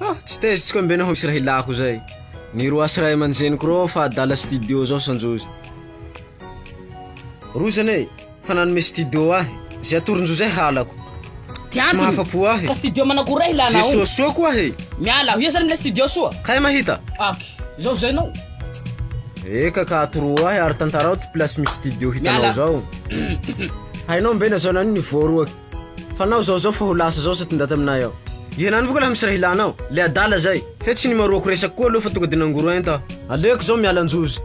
Ah, tsy tezitra mbe naho misy raha ilako zay. Miroasy ray aman-dreniko reo fa adala studio zao sanjozy. Rozana e, fa nanome studio ahy. Zay atoron-jo zay halako. Ty antony. Tsy mahafa-po ahy. Ka studio manakory raha ilana ao? Ze soasoa koa e. Miala aho. Iza zany milay studio soa? Kay mahita. Ok. Zao zay nao. Eka ka atoro ahy ary tantarao ty place misy studio hitanao zao. Hainao mbe nazao naniny voaroaky. Fanao zao zao fa ho lasa zao sa ty ndaty aminay ao. Ianao anie ko lah misy raha ilanao. Le adala zay. Fe tsy nimaroako resaka koa aloha fa tonga de nangoro enta aho. Aleoko zao miala anjozy.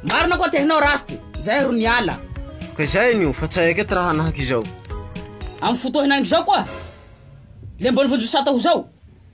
Marina koa tehinao Rasty, zay ro niala. Ka izay anio fa tsy hay aketo raha hanahaka izao. Amin'ny fotoa hinaingo zao koa le mbola vonjy ho sata ho zao.